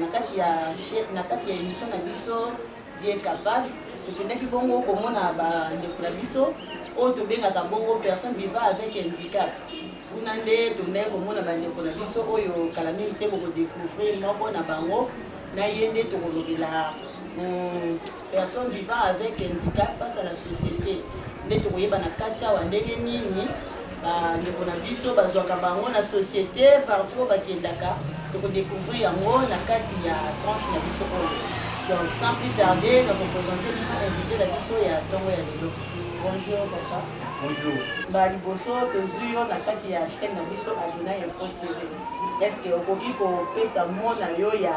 Na kati ya na kati ya emission na biso Dieu est capable tokendaki bongo komona bandeko na biso oyo tobengaka bongo personne vivant avec handicap kuna nde tondaki komona bandeko na biso oyo kala mingi te bokodecouvrir moko na bango na ye nde tokolobela hmm, Personne vivant avec handicap face à la société nde tokoyeba na kati awa ndenge nini bandeko na biso bazwaka bango na société partout bakendaka tokodecouvrir yango na kati ya tranche na biso oyo donc sans plus tarder nakopresente bino invité na biso ya ntongo ya lelo bonjour papa bonjour ba liboso tozwi yo na kati ya chaîne na biso adona info tv est ce que okoki kopesa mona yo ya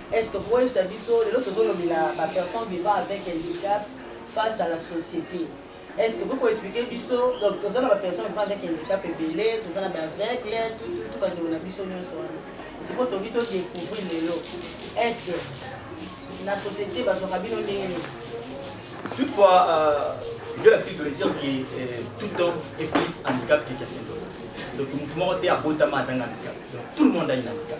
Est ce que okoki koyebisa biso lelo tozolobela ba personnes vivant avec handicap face à la société est ce que okoki ko expliquer biso donc toza na ba personnes vivant avec handicap ebele toza na ba aveugle tututu bandeko na biso nyonso wana sikoyo tokoki to découvrir lelo est ce que na société bazwaka bino ndenge nini toutefois euh, j'ai l'habitude de le dire que euh, tout homme est plus handicap que quelqu'un d'autre donc moto moko te abotama azanga handicap donc tout le monde a une handicap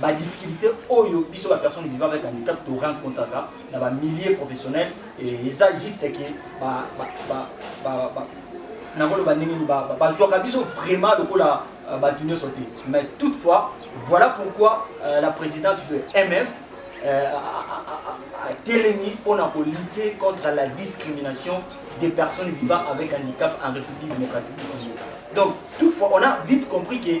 ba difficultés oyo biso ba personnes vivant avec handicap to rencontraka na ba milieux professionnels et eza juste que ba ba ba ba, ba nakoloba ndenge nini bazwaka biso vraiment lokola euh, bato nyonso te mais toutefois voilà pourquoi euh, la présidente de mf euh, atelemi mpona kolite contre la discrimination des personnes vivant avec handicap en république démocratique du congo donc toutefois on a vite compris que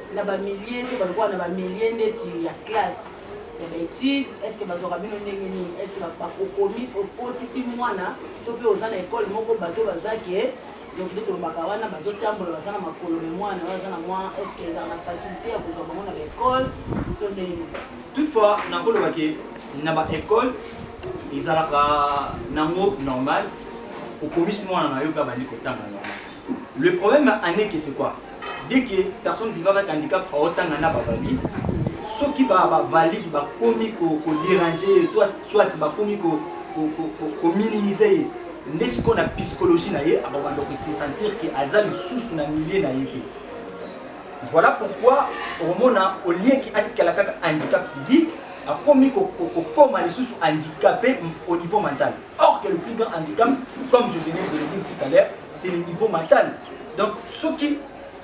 na ba milieu to balukaka na ba milieu neti ya classe ya ba etudes est ce que bazwaka bino ndenge nini est ce que bakokomi okotisi mwana to mpe oza na ekole moko bato baza ke donc nde tolobaka wana bazotambola baza na makolo me mwana baza na mwa est ce que ezala na facilité ya kozwa bango na baekole to ndenge nini toutefois nakoloba ke na baekole ezalaka nango normal okomisi mwana na yo mpe abandi kotanga normal le problème ya année ke c'est quoi Dès que personne vivant avec handicap aotanga na bavalide, soki ba bavalide bakomi ko, ko déranger ye to soit bakomi ko, ko, ko, ko, ko minimiser ye nde sikoyo na psychologie na ye akobanda kose sentir ke aza lisusu na milieu na ye te voilà pourquoi okomona olieki atikala kaka handicap physique akomi kokoma lisusu handicapé au niveau mental Or que le plus grand handicap, comme je venais de le dire tout à l'heure, c'est le niveau mental. Donc, ceux qui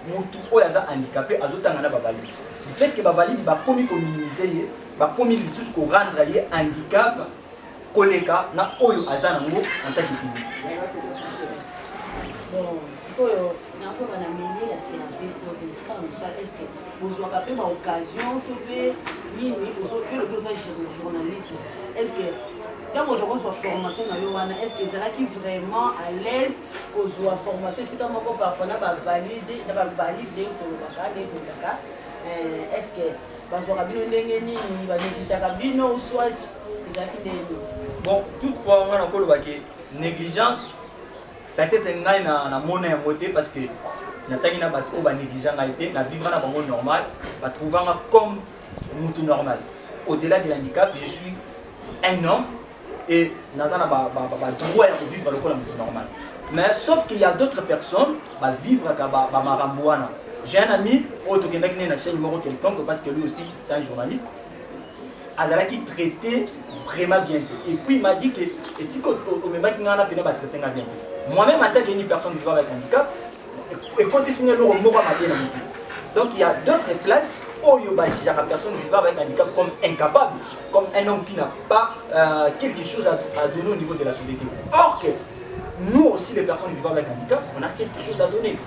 mutu oyo aza handicapé azotanga na bavalide du fait que bavalide bakomi kominimize ye bakomi lisusu korendre ye handicap koleka na oyo aza nango en tant que physique sikoyo nakoba na milieu ya service to ministère mosala eske Bozwaka pe ba occasion to pe nini ozo yo lobi oza journaliste est ce que tango ozo kozwa formation na yo wana est ce que ezalaki vraiment à l'aise kozwa formation esika moko parfois na ba valide na ba valide ndenge tolobaka ndenge tolobaka est ce que bazwaka bino ndenge nini ba negligaka bino ou soit ezalaki ndenge nini bon toutefois nga nakoloba ke négligence Peut etre ngai na na mona yango te parce que na tangi na batu oyo ba negligea ngai te na vivra na bango normal ba trouva nga comme mutu normal au delà de l'handicap je suis un homme et naza na ba ba ba droit ya ko vivre lokola mutu normal mais sauf qu'il y a d'autres personnes ba vivre ka ba ba marambo wana j'ai un ami oyo tokendaki naye na chaîne moko quelconque parce que lui aussi c'est un journaliste azalaki traite vraiment bien te et puis m'a dit que etiki omemaki ngai wana mpena batraite ngai bien te moi même attaque une personne vivant avec handicap ekotisi ngai eloko moko mabe na motu donc il y a d'autres places oyo bajugeaka personne vivant avec handicap comme incapable comme un homme qui n'a pas euh, quelque chose à, à donner au niveau de la société or que nous aussi les personnes vivant avec handicap on a quelque chose à donner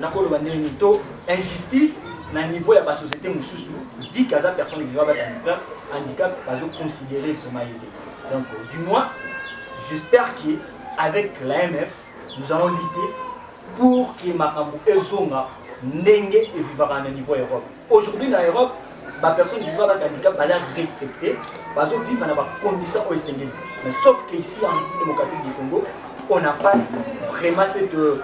nakoloba ndenge nini to injustice na niveau ya basociété mosusu vi ke aza personne vivant bata handicap handicap bazoconsidere vraiment ye te donc du moins j'espère que avec l'amf nous allons lutter pour que makambo ezonga ndenge evivaka na niveau ya europe Aujourd'hui na Europe ba personnes vivant avec handicap bala respecter bazo vivre na ba conditions oyo esengeli mais sauf que ici en République démocratique du Congo on n'a pas vraiment cette euh,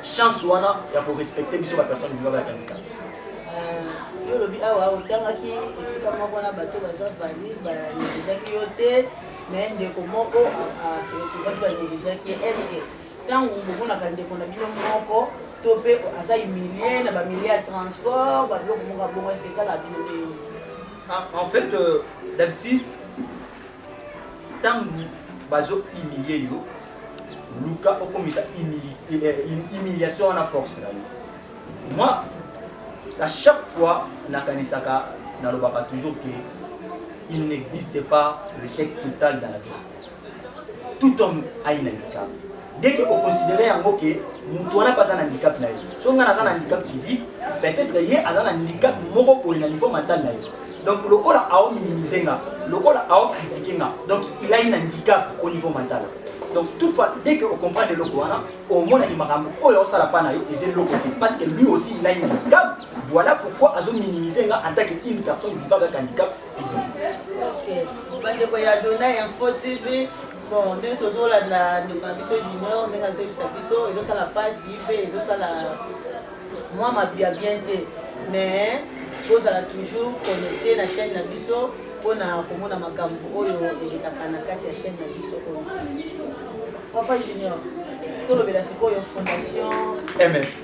chance wana ya ko respecter biso ba personnes vivant avec handicap euh, yo olobi awa ah, otangaki esika moko na bato baza valide banegezaki yo te mais ndeko moko asekoki ah, ah, banegezaki eske Ntango bomonaka ndeko na bino moko to mpe aza humilie na bamilie ya transport babiloko moko ya bongo eske esalaka bino ndenge nini Ah, en fait, euh, d'habitude, tangu bazo humilier yo, luka okomisa humili- eh, hum- humiliation wana force na yo. Moi, à chaque fois, nakanisaka, nalobaka toujours que il n'existe pas l'échec total dans la vie. tout homme a une handicap dès que o considérer yango que mutu wana pe aza na handicap na ye so ngai naza na handicap physique peut-être ye aza na handicap moko boye na niveau mental na ye donc lokola ao minimiser nga lokola ao critiquer nga donc il a une handicap au niveau mental donc toute fois dès que o comprendre eloko wana omonaki makambo oyo aosala pa na yo eza eloko te parce que lui aussi il a une handicap voilà pourquoi azo minimiser nga en tant que une personne vivant avec handicap bandeko ya dona info tv bon ndenge tozolanda ndeko na biso junior ndenge azoyebisa biso ezosala mpasi mpe ezosala mwa mabi ya bien te mais tozala toujours connecte na chaîne na biso mpona komona makambo oyo elekaka na kati ya chaîne na biso oyo papa junior tolobela sikoyo fondation mf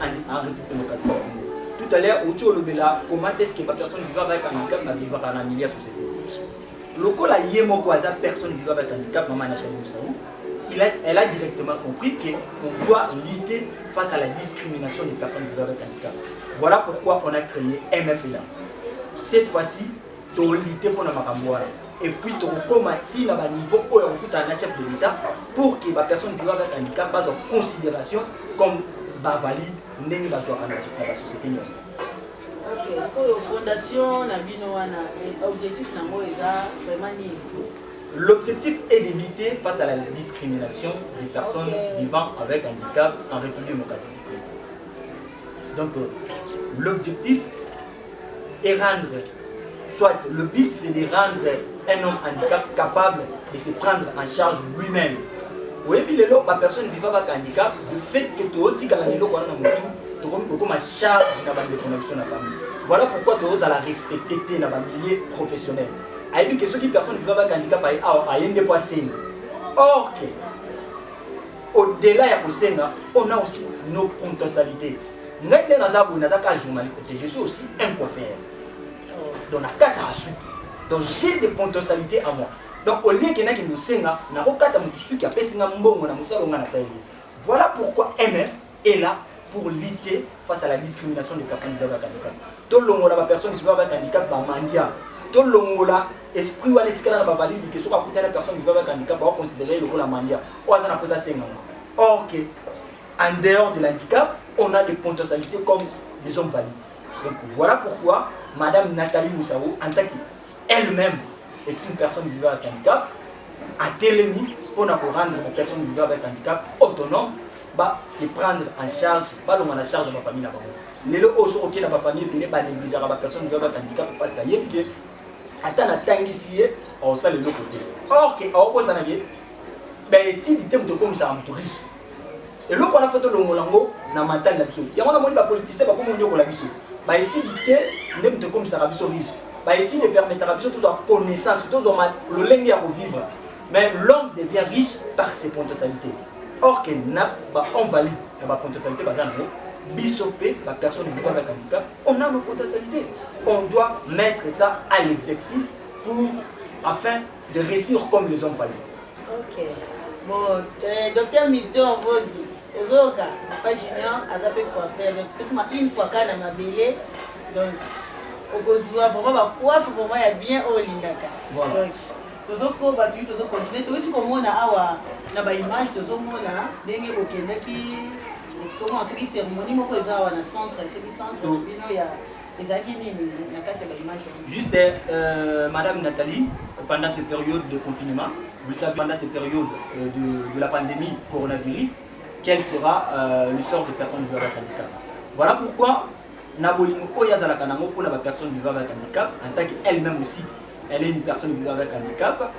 en République démocratique du Congo. Tout à l'heure, outi olobela comment est-ce que ba personnes vivant avec handicap ba vivaka na milieu ya société. Lokola ye moko aza personne vivant avec handicap mama na tango sawu. Il a, elle a directement compris que on doit lutter face à la discrimination des personnes vivant avec handicap. Voilà pourquoi on a créé MFLA. Cette fois-ci, To lutter mpo na makambo wana et puis tokokoma ti na ba niveau oyo ya kokutana na chef de l'Etat pour que ba personnes vivant avec handicap bazwa consideration comme ba valide ndenge bazwaka na ba société nyonso. Ok, oyo fondation na bino wana objectif na yango eza vraiment nini? L'objectif est de lutter face à la discrimination des personnes okay. vivant avec handicap en République démocratique du Congo. Donc, euh, l'objectif et rendre soit le but c'est de rendre un homme handicap capable de se prendre en charge lui-même oyebi lelo bapersonne viva baka handicap le fait que tootikala na eloko wana na motu tokomi kokoma charge na bandeko na biso na famille voilà pourquoi tozala respecte te na bamilieu professionnel ayebi ke soki personne viva baka handicap aye awa aye nde mpo asengi or ke au delà ya kosenga on a aussi nos potentialités ngai nde naza boye naza kaka journaliste te je suis aussi un coiffeur donc nakataka suki donc j'ai des potentialités à moi donc au lieu kendaki kosenga nakokata motu suki apesi nga mbongo na mosala onga nasaleli voilà pourquoi mf est là pour lutter face à la discrimination des personnes qui peuvent handicap tolongola bapersone qui peuvent handicap bamandia tolongola esprit wana etikala na bavalide ke soki akutana personne qui peuvent handicap baoconsidere ye lokola mandia oyo aza na mposa asengama or que en dehors de l'handicap on a des potentialités comme des hommes valides donc voilà pourquoi madame nathalie moussao en tant que elle meme est une personne vivant avec handicap atelemi mpo na korendre ba personne vivant avec handicap autonome ba se prendre en charge balonga na charge ya bafamille na bango lelo oyo soki okei na bafamille ebele banegligeaka ba personne vivant avec handicap parce que ayebi ke ata natangisi ye aosala eloko te or ke aobosanake baetidi te moto ekomisaka moto riche eloko wana fo tolongola yango na mental na biso yango namoni bapoliticien bakomi konyokola biso baetidi te nde moto ekomisaka biso riche baetidi epermetaka biso tozwa connaissance tozwa lolenge ya kovivre mais l'homme devient riche par ses potentialités or que na bahomme valide na bapotentialité baza nango biso mpe bapersone ebika na kandika on a nos potentialités on doit mettre ça à l'exercice pour afin de réussir comme les hommes valides Ok bo eh, docteur Milton Mbozi ozoyoka papa Junior aza pe coiffeur donc soki ma une fois kaka na mabele donc okozwa vraiment ba coiffe vraiment ya bien oyo olingaka Voilà. donc tozokoba tuyi tozocontinue toyuti komona awa na baimage tozomona ndenge bokendaki tozomona soki cérémonie moko eza awa na centre soki centre na bino ya Ezalaki nini na kati ya ba image wana? Juste euh, madame Nathalie pendant ce période de confinement, vous le savez pendant ce période euh, de, de la pandémie coronavirus, quel sera euh, le sort de personnes vivant avec handicap. Voilà pourquoi na bolingo oyo azalaka nango mpo na bapersonne vivant avec handicap en tant que elle-même aussi elle est une personne vivant avec handicap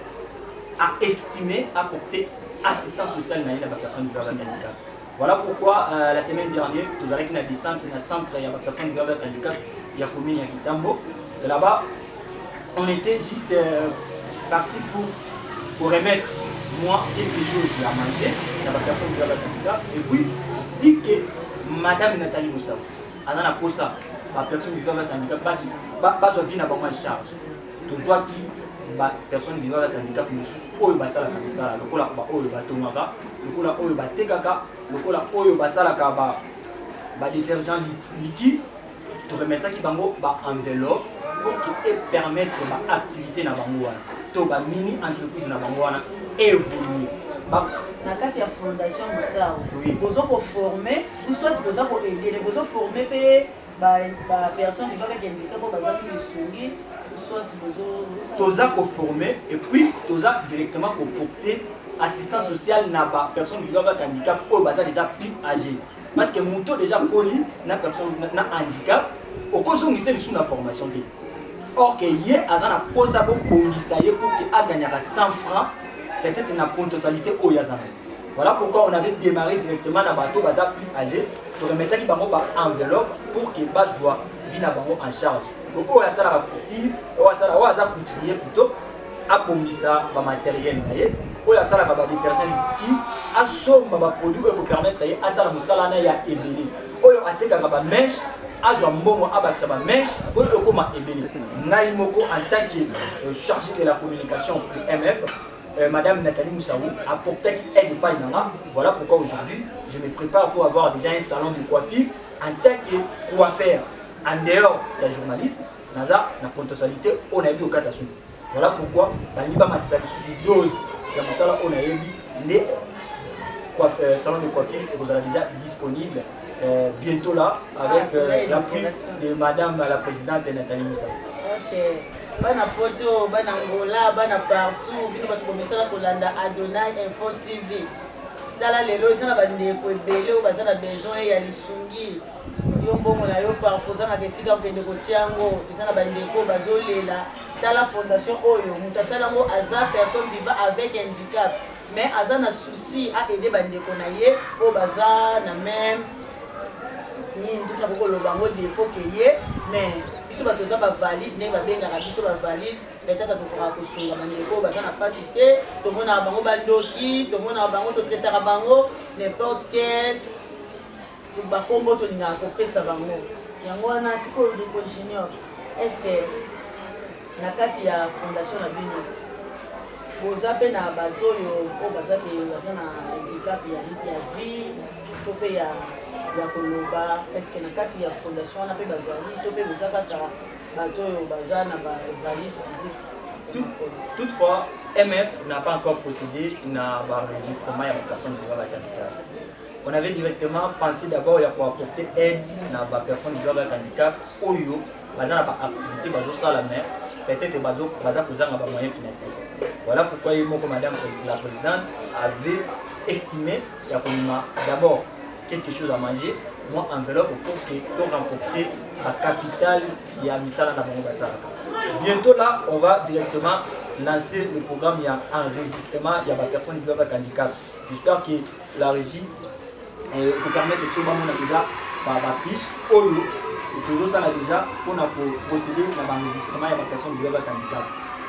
a estimé apporter assistance sociale na ye na bapersonne vivant avec handicap Voilà pourquoi euh, la semaine dernière tozalaki na descente na centre ya ba personnes grave avec handicap ya commune ya Kitambo. Et là-bas on était juste euh, parti pour pour remettre moi quelque chose à manger na ba personnes grave avec handicap et puis dit que madame Nathalie Moussa aza na posa ba personnes grave avec handicap basi bazwa vie na bango en charge. tozwaki ba personnes vivant avec handicap mosusu oyo basalaka misala lokola baoyo batongaka lokola oyo batekaka lokola oyo basalaka ba, ba détergent liquide toremetaki bango ba enveloppe pour que epermettre ba activité na bango wana to ba mini entreprise na bango wana évolue na kati ya fondation mosao boza koforme soit boza koedele bozoforme mpe Ba ba personnes vivant avec handicap oyo bazangi lisungi soit bozo toza ko former et puis toza directement ko porter assistance sociale na ba personnes vivant avec handicap oyo baza déjà plus âgé parce que moto déjà koli na personne na handicap okozongisa lisusu na formation te or que ye aza na posa bobongisa ye pour que aganyaka 100 francs peut-être na pontosalité oyo aza nayo Voilà pourquoi on avait démarré directement na bateau baza plus âgé, to remetaki bango ba enveloppe pour que bazwa vie na bango en charge. Donc oyo asalaka couture, oyo asala oyo aza couturier plutôt abongisa ba matériel na ye, oyo asalaka ba détergent qui asomba ba produits oyo ekopermettre ye asala mosala na ya ebele. Oyo atekaka ba mèche azwa mbongo abakisa ba mèche po ekoma ebele. Ngai moko en tant que euh, chargé de la communication du MF Euh, Madame Nathalie Moussaou apportaki aide epai na nga voilà pourquoi aujourd'hui je me prépare pour avoir déjà un salon de coiffure en tant que coiffeur en dehors ya journaliste naza na potentialité oyo nayebi kokata suki voilà pourquoi balingi bamatisa lisusu dose ya mosala oyo nayebi nde euh, salon de coiffure ekozala déjà disponible euh, bientôt là avec ah, euh, l'appui de madame la présidente Nathalie Moussa. OK. Bana poto, bana Angola, bana partout, bino bato bomesana kolanda Adonai Info TV. tala lelo eza na bandeko ebele oyo baza na besoin ya lisungi yo mbongo na yo parfo ozangaka esika okende kotia yango eza na bandeko bazolela tala fondation oyo moto asala yango aza personne viva avec handicap Mais aza na souci a aider ba ndeko na ye oyo baza na meme nini nde nakoki koloba yango defo ke ye mais biso bato toza bavalide ndenge babengaka biso bavalide etaka tokokaka kosunga bandeko oyo baza na mpasi te tomonaka bango bandoki tomonaka bango totretaka bango n'importe quel Ba kombo tolingaka kopesa bango yango wana sikoyo ndeko junior est ce que na kati ya fondation na bino boza pe na bato oyo oyo baza ke baza na handicap ya, ya vie to pe ya ya koloba est ce que na kati ya fondation wana pe bazali to pe boza kaka bato oyo baza na ba valide physique toutefois mf n'a pas encore procédé na ba enregistrement ya ba personnes oyo bazalaki handicap on avait directement pensé d'abord ya koapporter aide na bapersone zwa bak handicap oyo baza na baactivité bazosala mais peut-être baza kozanga bamoyen financier voilà pourquoi ye moko madame la présidente avait estimé ya komema d'abord quelque chose à manger mwa enveloppe pour que to renforcer la capitale ya misala na bango basalaka bientôt là on va directement lancer le programme ya enregistrement ya bapersone zwa bak handicap J'espère que la régie euh, ko permettre biso bamona déjà ba ba fiche oyo tozosala déjà mpona ko procéder na baenregistrement ya bapersonne déjà bakandikat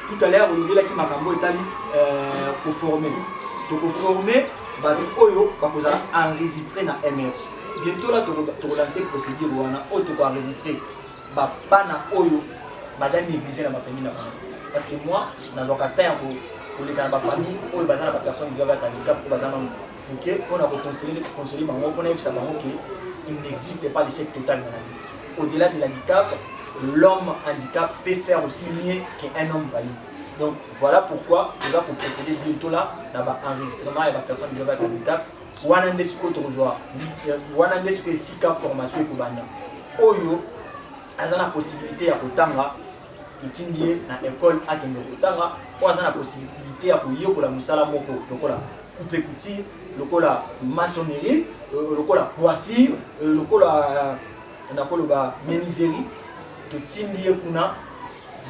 tout à l'heure olobelaki makambo etali euh, koforme tokoforme bato oyo bakozala enregistre na mf bientôt la tokolanse procédure wana oyo tokoenregistre ba bana oyo baza neglige na ba famille na bango parce que moi nazwaka temps ya ko koleka na ba famille oyo baza na ba personnes grave ya handicap oyo baza na moke mpo na koconseler conseiller bango mpo nayebisa bango que il n'existe pas l'échec total na la vie au-delà de l'handicap l'homme handicap peut faire aussi mieux qu'un homme valide donc voilà pourquoi toza koprocéder bientôt là na ba enregistrement ya ba personnes grave ya handicap wana nde sikoyo tokozwa wana nde sikoyo esika formation ekobanda oyo aza na possibilité ya kotanga totindi ye na ekole akende kotanga oyo aza na possibilité ya koyekola mosala moko lokola coupe couture lokola maçonnerie euh, lokola coiffure euh, lokola euh, nakoloba meniserie totindi ye kuna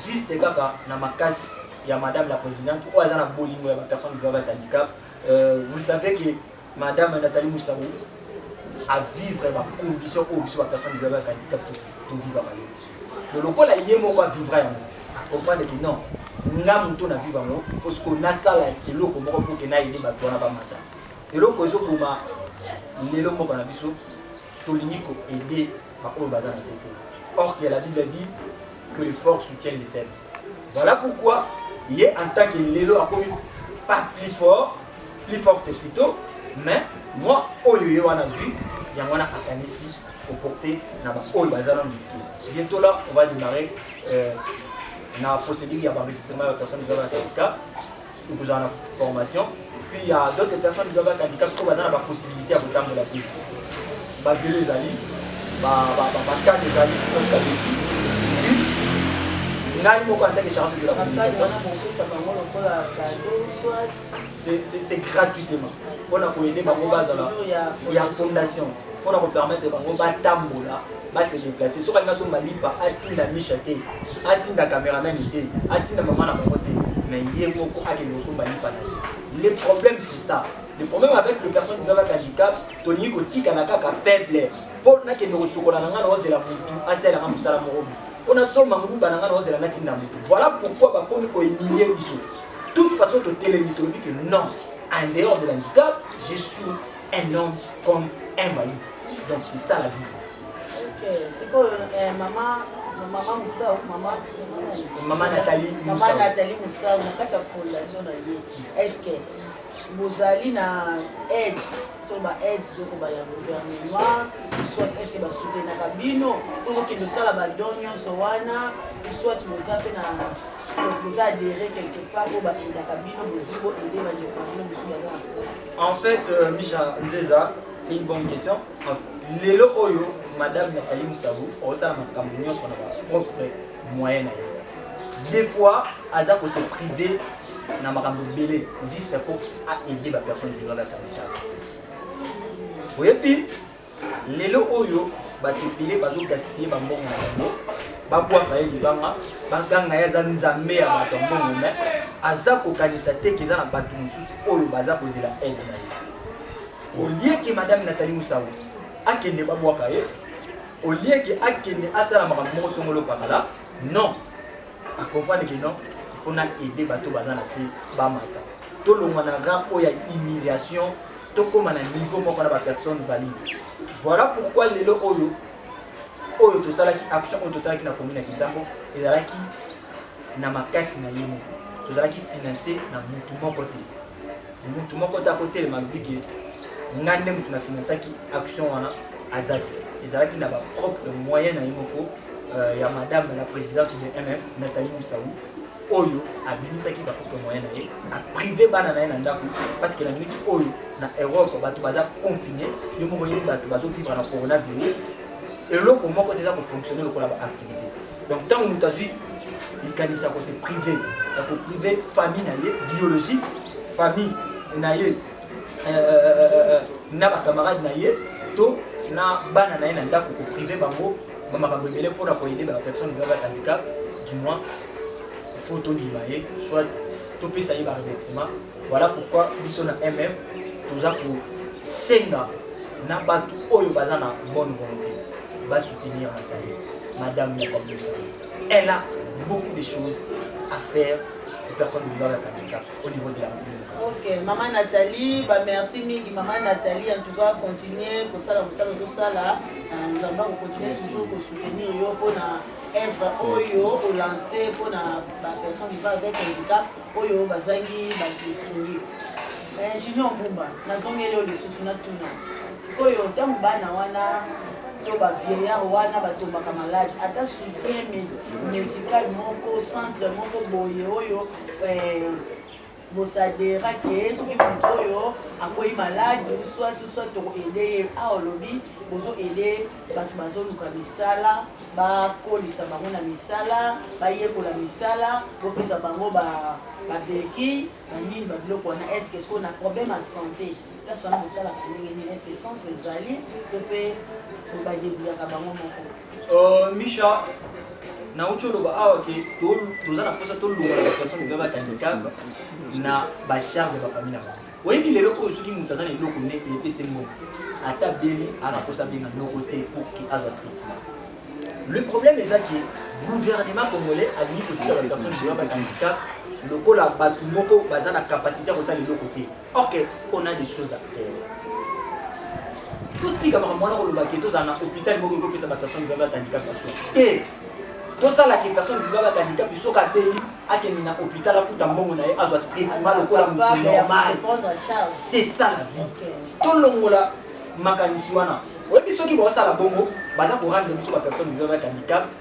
juste kaka na makasi ya madame la présidente oyo aza na bolingo ya bapersone vivant avec handicap Euh, vous savez que Madame Nathalie Moussaoui a vivre ba conditions oyo biso ba personnes vivre avec handicap to vivre ba yo. Donc lokola ye moko a vivre yango, a comprendre que non, nga moto na vivre yango, faut ce qu'on asala eloko moko pour que na aider bato wana bamata. Eloko ezokoma lelo mboka na biso tolingi ko aider baoyo baza na se te. Or que la Bible dit que les forts soutiennent les faibles. Voilà pourquoi ye en tant que lelo akomi pas plus fort plus forte plutôt mais moi oyo ye wana azwi yango wana akanisi koporte na baoyo baza na mike bientôt là on va démarrer euh, na procédure ya baenregistrement ya bapersonne ezala na certificat Okozala na formation puis ya d'autres personnes doivent être handicapées oyo baza na ba possibilités ya kotambola te ba velo ezali bacade ezali kabeki ngai moko antake charge de la c'est gratuitement mpona koyede bango bazala ya fondation mpona kopermettre bango batambola ba se deplacer soki alingi asomba lipa atinda misha te atinda cameraman te atinda mama na bango te mais ye moko akende kosomba lipa na ye le problème c'est ça le problème avec le personne qui va avec handicap tolingi kotikala kaka faible mpo nakende kosukola na ngai naozela motu asala nga mosala moko mpo nasomba nguba na ngai naozela natinda motu voilà pourquoi bakomi koemilie biso toute façon totelemi tolobi que non en dehors de l'handicap je suis un homme comme un voyou. Donc c'est ça la vie. Ok, c'est quoi euh, maman maman Moussa ou maman maman Nathalie Moussa. Maman Nathalie Moussa, na kati ya fondation na ye. Est-ce que bozali na aide to ba aide doko ba ya gouvernement soit est-ce que ba soutenaka bino to kokende kosala ba don nyonso wana soit boza mpe na boza adhéré quelque part oyo ba aidaka bino bozwi bo aide bandeko na bino mosusu baza na En fait, euh, Misha Nzeza, c'est une bonne question. Lelo oyo, Madame Nathalie Moussaou, osala makambo nyonso na ba propre moyen na ye. Des fois, aza ko se priver na makambo ebele juste mpo a aider ba personnes qui doivent être en retard. Oyebi lelo oyo bato ebele bazogaspille bambongo na bango babwaka ye libanga baganga ye aza nzambe ya bato ya mbongo me aza kokanisa te ke eza na bato mosusu oyo baza kozela aide na ye olieke madame natali mosango akende babwaka ye olieke akende asala makambo moko songolo pakala non akomprendre ke non ifo na aide bato baza na se bamata Tolongwa na rang oyo ya humiliation, tokoma na niveau moko na ba personnes valides. Voilà pourquoi lelo oyo, oyo tosalaki, action oyo tosalaki na commune ya Kintambo, ezalaki na makasi na ye moko. Tozalaki financer na mutu moko te. Mutu moko te akotelema alobi ke ngai nde mutu na financaki action wana aza te. Ezalaki na ba propre moyen na ye moko euh, ya madame la présidente de MF Nathalie Moussaoui oyo abimisaki ba photo moyen na ye a prive bana na ye na ndaku parce que na minute oyo na Europe bato baza confine yo moko yebi bato bazo vivre na coronavirus eloko moko te eza ko fonctionner lokola ba activité donc ntango moto azwi likanisi ya kose prive ya ko prive famille na ye biologique famille na ye euh, na bacamarade na ye to na bana na ye na ndako ko prive bango bamakambo ebele mpona koyede ba personne vivant avec handicap du moins il faut tondima ye soit topesa ye baremerciement voilà pourquoi biso na mf toza kosenga na bato oyo baza na bonne volonté basoutenir natali madame natali osali elle a beaucoup de choses à faire aux personnes vivant avec handicap au niveau de la commune ok mama nathalie bamerci mingi mama nathalie en tout cas continue kosala mosala ozosala nzambe akocontinue toujours kosoutenir yo mpona œuvre oyo o lancer mpo na ba personnes vivant avec handicap oyo bazangi bato esongi eh, junior mbumba nazongeli oyo lisusu natuna sikoyo ntango bana wana to bavieillard wana batombaka malade ata soutien médical moko centre moko boye oyo eh, Bosadera que soki moto oyo akwei maladi ou soit ou soit toko aider ye. Awa olobi bozo aider bato bazoluka misala, bakolisa bango na misala, bayekola misala, bopesa bango ba ba bequilles, ba nini, ba biloko wana. Est ce que sikoyo na problème ya sante place wana bosalaka ndenge nini? Est ce que centre ezali to mpe ba debrouillaka bango moko? Euh, Misha, nauti oloba awa ke toza na mposa tolongola bapersone mpe bakanditaka na bacharge ya bafamille na bango oyebi lelo oyo soki moto aza na eloko neti epesi mbongo ata beni ana mposa abenga noko te pour ke azwa traitement le problème eza ke gouvernement congolais alingi kotika bapersone mpe bakanditaka lokola bato moko baza na kapasité ya kosala eloko te Ok, on a des choses à faire. totika makambo wana koloba ke tozala na hôpital moko ekopesa bato personne vivable avec handicap ya soki te tosala ke personne vivable avec handicap soki abeli akende na hôpital afuta mbongo na ye azwa traitement lokola moto normal c'est ça la vie tolongola makanisi wana oyebi soki baosala bongo baza korendre biso bapersone vivable avec handicap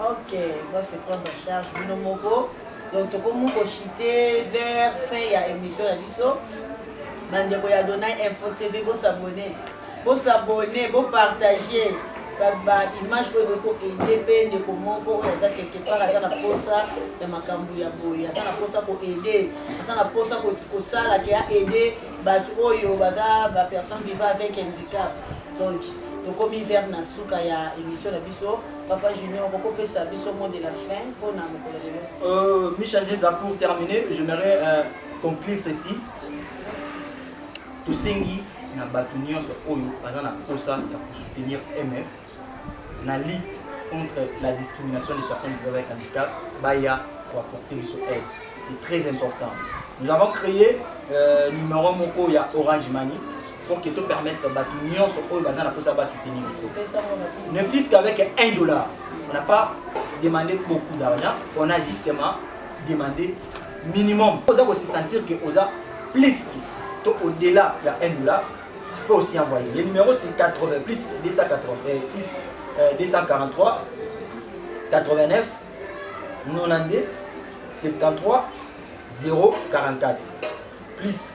Ok va se prendre en charge bino moko donc tokomi ko chite vers fin ya emission na biso bandeko ya Donai Info TV bo s'abonner bo s'abonner bo partager ba image oyo ekoki koaide mpe ndeko moko oyo aza quelque part aza na mposa ya makambo ya boye aza na mposa koaide aza na mposa kosala ke aide bato oyo baza bapersonne viva avec handicap donc tokomi vers na suka ya émission na biso Papa Junior oko pesa biso mot de la fin pona mokolo lelo. Euh, Michel Jeza pour terminer, j'aimerais euh, conclure ceci. Tosengi na bato nyonso oyo baza na mposa ya kosoutenir mf na lutte contre la discrimination des personnes vivant avec handicap baya koapporte biso aide c'est très important nous avons créé euh, numéro moko ya orange money pour que to permettre batu nyonso oyo baza na posa ba soutenir biso ne fils qu'avec 1 dollar on n'a pas demandé beaucoup d'argent on a justement demandé minimum oza ko se sentir que oza plus que to au delà ya 1 dollar tu peux aussi envoyer le numéro c'est 80 plus 280 euh, plus euh, 243 89 92 73 044 plus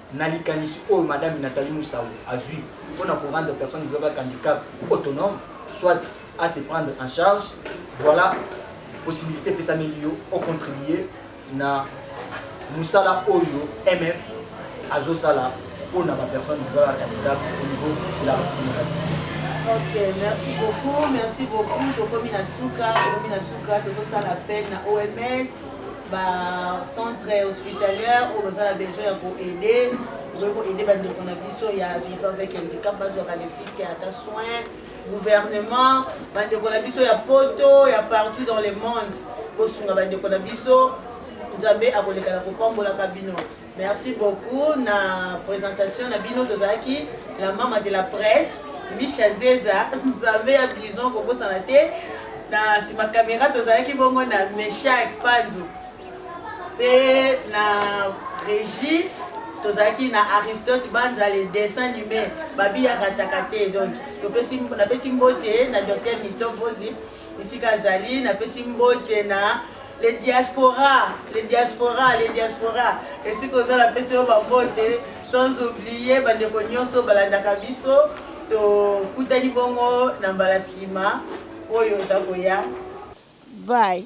Na likanisi oyo Madame Nathalie Musawu azui mpo na ko rendre personne vivant avec handicap autonome soit a se prendre en charge, voila possibilite epesameli yo o contribuer na mosala oyo MF azo sala mpo na ba personnes vivant avec handicap au niveau de la Republique Democratique. Ok, merci beaucoup, merci beaucoup. Tokomi na suka, tokomi na suka, tozosala appel na OMS. ba centre hospitalier oyo baza na besoin ya koaide okoki koaide bandeko na biso ya viva avec handicap bazwaka ne fiske ata soin gouvernement bandeko na biso ya poto ya partout dans le monde bosunga bandeko na biso nzambe akoleka na kopambolaka bino Merci beaucoup na presentation na bino tozalaki la mama de la presse Misha Nzeza Nzambe ya bison kobosana te na sima kamera tozalaki bongo na Meshak Panzu pe na Regie tozalaki na aristote banza le dessin nume babi ya rataka te donc napesi mbote na docteur mito vozi esika azali napesi mbote na le diaspora le diaspora le diaspora esika oza napesi yo bambote sans oublie bandeko nyonso balandaka biso tokutani bongo na mbala nsima oyo oza koya bye